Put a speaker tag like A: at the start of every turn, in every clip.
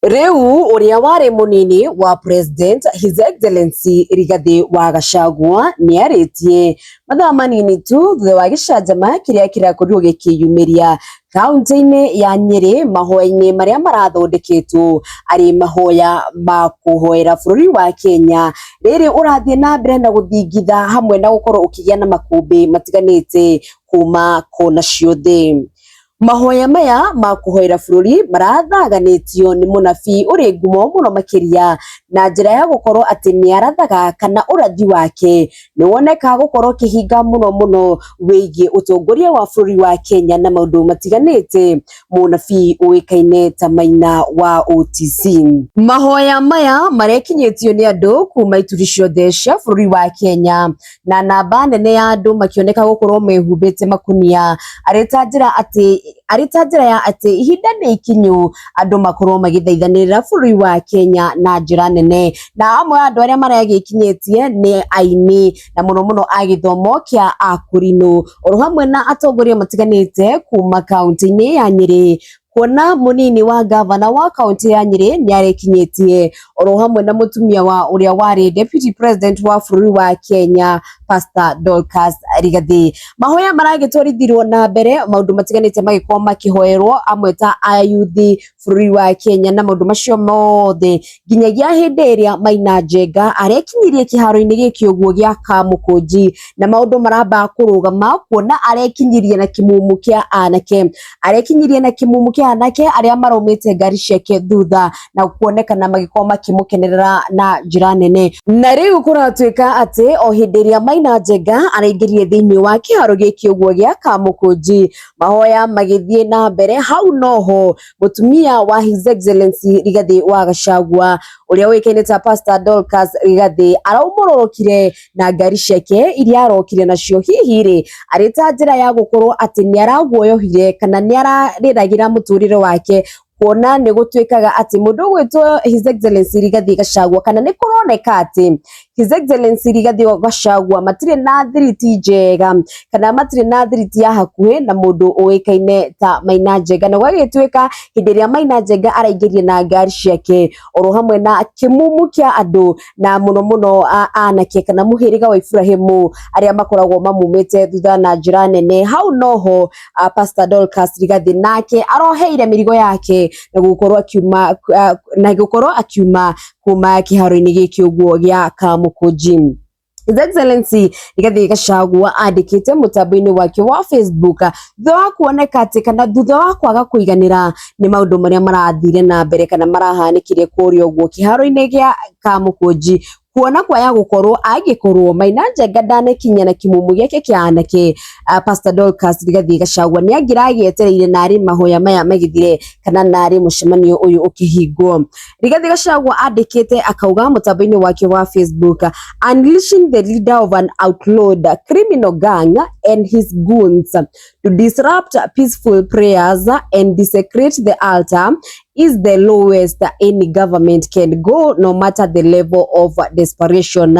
A: Rĩu ũrĩa warĩ mũnini wa President His Excellency Rigathi wa Gachagua nĩarĩtie mathaa manini tu thutha wa gĩcanjama kĩrĩa kĩrakorirwo gĩkĩyumĩria kaunti-inĩ ya Nyĩrĩ mahoya-inĩ marĩa marathondeketwo arĩ mahoya ma kũhoera bũrũri wa Kenya rĩrĩ ũrathiĩ na mbere na gũthingitha hamwe na gũkorwo ũkĩgĩa na makũmbĩ matiganĩte kuma kona ciothe. Mahoya maya ma kũhoera bũrũri marathaganĩtio nĩ mũnabii ũrĩ ngumo mũno makĩria na njĩra ya gũkorwo atĩ nĩ arathaga kana ũrathi wake nĩ woneka gũkorwo ũkĩhinga mũno mũno wĩgiĩ ũtongoria wa bũrũri wa Kenya na maũndũ matiganĩte, mũnabii ũĩkaine ta Maina wa OTC. Mahoya maya marekinyĩtio nĩ andũ kuma ituri ciothe cia bũrũri wa Kenya. na namba nene ya andũ makĩoneka gũkorwo mehumbĩte makunia arĩ ta njĩra atĩ arĩ ta njĩra ya atĩ ihinda nĩ ikinyu andũ makorwo magĩthaithanĩrĩra bũrũri wa Kenya na njĩra nene na amwe a andũ arĩa maragĩkinyĩtie nĩ aini na mũno mũno a gĩthomo kĩa akũrinũ oro hamwe na atongoria matiganĩte kuma kaunti-inĩ ya Nyĩrĩ kuona munini wa ngavana wa kaunti ya Nyeri niarikinyitie oro hamwe na mutumia wa uria wari deputy president wa bururi wa Kenya Pastor Dorcas Rigathi mahoya maragitwarithiruo na mbere maundu matiganite magikorwo makihoerwo amwe ta ayuthi bururi wa Kenya na maundu macio mothe nginyagia hĩndĩ ĩrĩa Maina Njenga arekinyirie kĩharo-inĩ gĩkĩ ũguo gĩa Kamũkũnji, na maũndũ maramba kũrũgama kuona arekinyirie na kĩmumu kĩa anake, arekinyirie na kĩmumu kĩa anake arĩa maraumĩte ngari ciake thutha na kuonekana magĩkorwo makĩmũkenerera na njĩra nene. Na rĩu kũratuĩka atĩ o hĩndĩ ĩrĩa Maina Njenga araingĩrire thĩinĩ wa kĩharo gĩkĩ ũguo gĩa Kamũkũnji, mahoya magĩthiĩ na mbere, hau noho mũtumia wa His Excellency Rigathi wa Gachagua ũrĩa ũĩkaine ta Pastor Dorcas Rigathi araumũrũrũkire na ngari ciake iria arokire nacio hihi rĩ arĩ ta njĩra ya gũkorwo atĩ nĩ araguoyohire kana nĩ ararĩragĩra mũtũrĩre wake kuona nĩ gũtuĩkaga atĩ mũndũ ũgwĩtwo His Excellency Rigathi Gachagua kana nĩ kũroneka atĩ His Excellency Rigathi wa Gachagua matirĩ na thiriti njega kana matirĩ na thiriti ya hakuhĩ na mũndũ ũĩkaine ta Maina Njenga na gwagĩtuĩka hĩndĩ ĩrĩa Maina Njenga araingĩrire na ngari ciake oro hamwe na kĩmumu kĩa andũ na mũno mũno a- anake kana mũhĩrĩga wa Ibrahimu arĩa makoragwo mamumĩte thutha na njĩra nene hau noho ah, Pastor Dorcas Rigathi nake aroheire mĩrigo yake na gũkorwo akiuma ah, na gũkorwo akiuma kuma kĩharo-inĩ gĩkĩ ũguo gĩa Kamũkũnji. His Excellency Rigathi Gachagua andĩkĩte mũtambo-inĩ wake wa Facebook thutha wa kuoneka atĩ kana thutha wa kwaga kũiganĩra nĩ maũndũ marĩa marathire na mbere kana marahanĩkire kũrĩa ũguo kĩharo-inĩ gĩa Kamũkũnji kuona kwaya gũkorwo angĩkorwo Maina Njenga ndanakinya na kĩmumu gĩake kĩa anake uh, Pastor Dorcas Rigathi Gachagua nĩ angĩragĩetereire narĩ mahoya maya magĩthire kana narĩ mũcemanio ũyũ ũkĩhingwo Rigathi Gachagua andĩkĩte akauga mũtambo-inĩ wake wa Facebook unleashing the leader of an outlawed criminal gang and his goons to disrupt peaceful prayers and desecrate the altar is the lowest any government can go no matter the level of desperation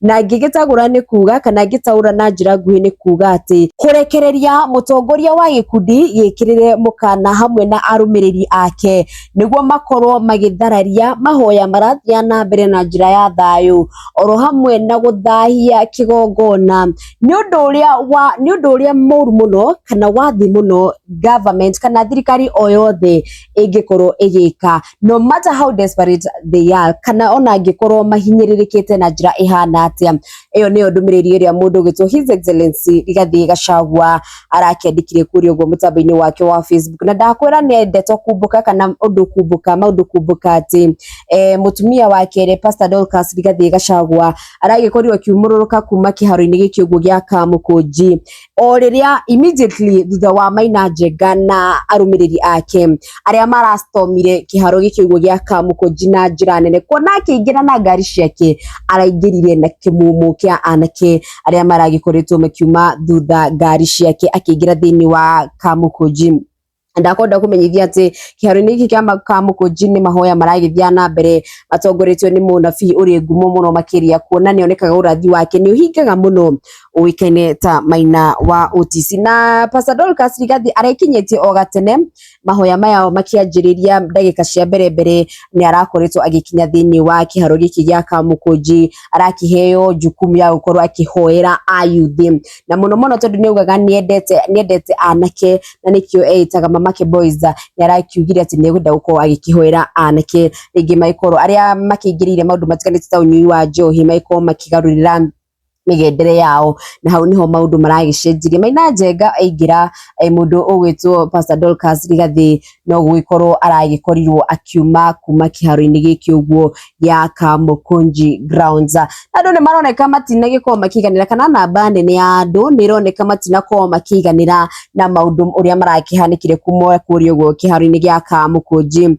A: na ngĩgĩtagũra nĩ kuga kana ngĩtaũra na njĩra nguhĩ nĩ kuga atĩ kũrekereria mũtongoria wa gĩkundi gĩkĩrĩre mũkana hamwe na arũmĩrĩri ake nĩguo makorwo magĩthararia mahoya marathiĩ na mbere na njĩra ya thayũ oro hamwe na gũthahia kĩgongona nĩ ũndũ ũrĩa wa nĩ ũndũ ũrĩa mũru mũno kana wathi mũno government kana thirikari o yothe ĩngĩkorwo ĩgĩka no matter how desperate they are kana ona angĩkorwo mahinyĩrĩrĩkĩte na njĩra ĩhana atĩa ĩyo nĩyo ndũmĩrĩri ĩrĩa mũndũ ũgĩtwo his excellency Rigathĩ Gachagua arakĩandĩkire kũrĩa ũguo mũtambo-inĩ wake wa Facebook na ndakwĩra nĩ ndeto kumbũka kana ũndũ kumbũka maũndũ kumbũka atĩ eh, mũtumia wa kerĩ Pastor Dorcas Rigathĩ Gachagua aragĩkorirwo akiumũrũrũka kuma kĩharo-inĩ gĩkĩ ũguo gĩa Kamũkũnji o rĩrĩa immediately thutha wa Maina Njenga na arũmĩrĩri ake arĩa marastomire kĩharo gĩkĩ ũguo gĩa Kamũkũnji na njĩra nene kuona akĩingĩra na ngari ciake araingĩrire na kĩmumu kĩa anake arĩa maragĩkoretwo makiuma thutha ngari ciake akĩingĩra thĩinĩ wa Kamũkũnji ndakwenda kũmenyithia atĩ kĩharo-inĩ gĩkĩ kĩa Kamũkũnji nĩ mahoya maragĩthiaga na mbere matongoretio nĩ mũnabii ũrĩ ngumo mũno makĩria kuona nĩ onekaga ũrathi wake nĩ ũhingaga mũno ũĩkaine ta Maina wa Ũtisi na Pastor Dorcas Rigathi arekinyĩtie o gatene mahoya maya makĩanjĩrĩria ndagĩka cia mbere mbere nĩ arakoretwo agĩkinya thĩinĩ wa kĩharo gĩkĩ gĩa Kamũkũnji arakĩheo jukumu ya gũkorwo akĩhoera ayuthi na mũno mũno tondũ nĩ augaga nĩ endete anake na nĩkĩo eĩtaga mamake boys nĩ arakiugire atĩ nĩ egwenda gũkorwo agĩkĩhoera anake rĩngĩ magĩkorwo arĩa makĩingĩrĩire maũndũ matiganĩte ta ũnyui wa njohi magĩkorwo makĩgarũrĩra mĩgendere yao na hau nĩho maũndũ maragĩcenjirie maina njenga aingĩra eh, mũndũ ũgwĩtwo pastor Dorcas Rigathĩ no gũgĩkorwo aragĩkorirwo akiuma kuma kĩharo-inĩ gĩkĩ ũguo gĩa Kamukunji grounds na andũ nĩ maroneka matinagĩkorwo makĩiganĩra kana namba nene ya andũ nĩ ĩroneka matinakorwo makĩiganĩra na maũndũ ũrĩa marakĩhanĩkire kuma kũrĩa ũguo kĩharo-inĩ gĩa Kamukunji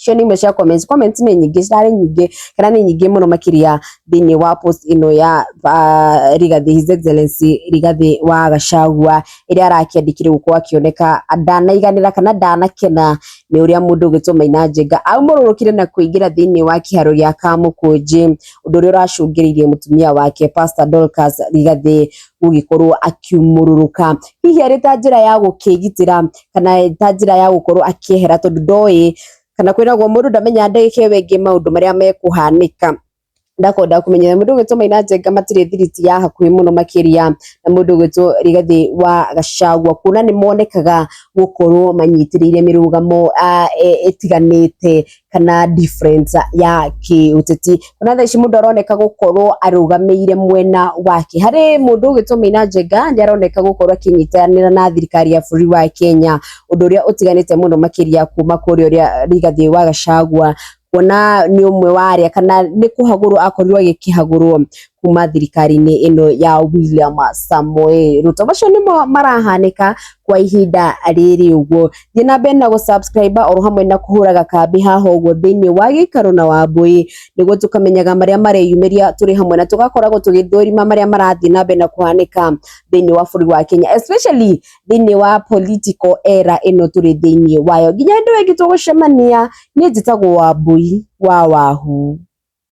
A: icio nĩ imwe cia comments comments nĩ nyingĩ cirarĩ nyingĩ kana nĩ nyingĩ mũno makĩria thĩinĩ wa post ĩno ya uh, Rigathi His Excellency Rigathi wa Gachagua ĩrĩa arakĩandĩkire gũkũ akĩoneka ndanaiganĩra kana ndanakena nĩ ũrĩa mũndũ ũgĩtwo Maina Njenga aumũrũrũkire na kũingĩra thĩinĩ wa kĩharo gĩa Kamũkũnji ũndũ ũrĩa ũracũngĩrĩirie mũtumia wake Pastor Dorcas Rigathi gũgĩkorwo akiumũrũrũka hihi arĩ ta njĩra ya gũkĩgitĩra kana ta njĩra ya gũkorwo akĩehera tondũ ndoĩ kana kwĩragwo mũndũ ndamenyaga ndagĩka ĩyo ĩngĩ maũndũ marĩa mekũhanĩka ndakwenda kũmenya mũndũ ũgwĩtwo Maina Njenga matirĩ thiriti ya hakuhĩ mũno makĩria na mũndũ ũgwĩtwo Rigathĩ wa Gachagua kuona nĩ monekaga gũkorwo manyitĩrĩire mĩrũgamo ah, ĩ- ĩtiganĩte kana difference ya kĩũteti ona thaa ici mũndũ aroneka gũkorwo arũgamĩire mwena wake harĩ mũndũ ũgĩtwo Maina Njenga nĩ aroneka gũkorwo akĩnyitanĩra na thirikari ya bũrũri wa Kenya ũndũ ũrĩa ũtiganĩte mũno makĩria kuma kũrĩa ũrĩa Rigathĩ wa Gachagua kuona nĩ ũmwe wa arĩa kana nĩ kũhagũrwo akorirwo agĩkĩhagũrwo kuma thirikari-inĩ ĩno ya William Samoei Ruto. Macio nĩmo marahanĩka kwa ihinda rĩrĩ ũguo. Thiĩ na mbere na gũsubscribe oro hamwe na kũhũraga kambĩ haha ũguo thĩinĩ wa gĩikaro na Wambũi nĩguo tũkamenyaga marĩa mareyumĩria tũrĩ hamwe na tũgakoragwo tũgĩthũrima marĩa marathiĩ na mbere na kũhanĩka thĩinĩ wa bũrũri wa Kenya especially thĩinĩ wa political era ĩno tũrĩ thĩinĩ wayo. Nginya hĩndĩ ĩngĩ tũgũcemania, niĩ njĩtagwo Wambũi wa Wahu.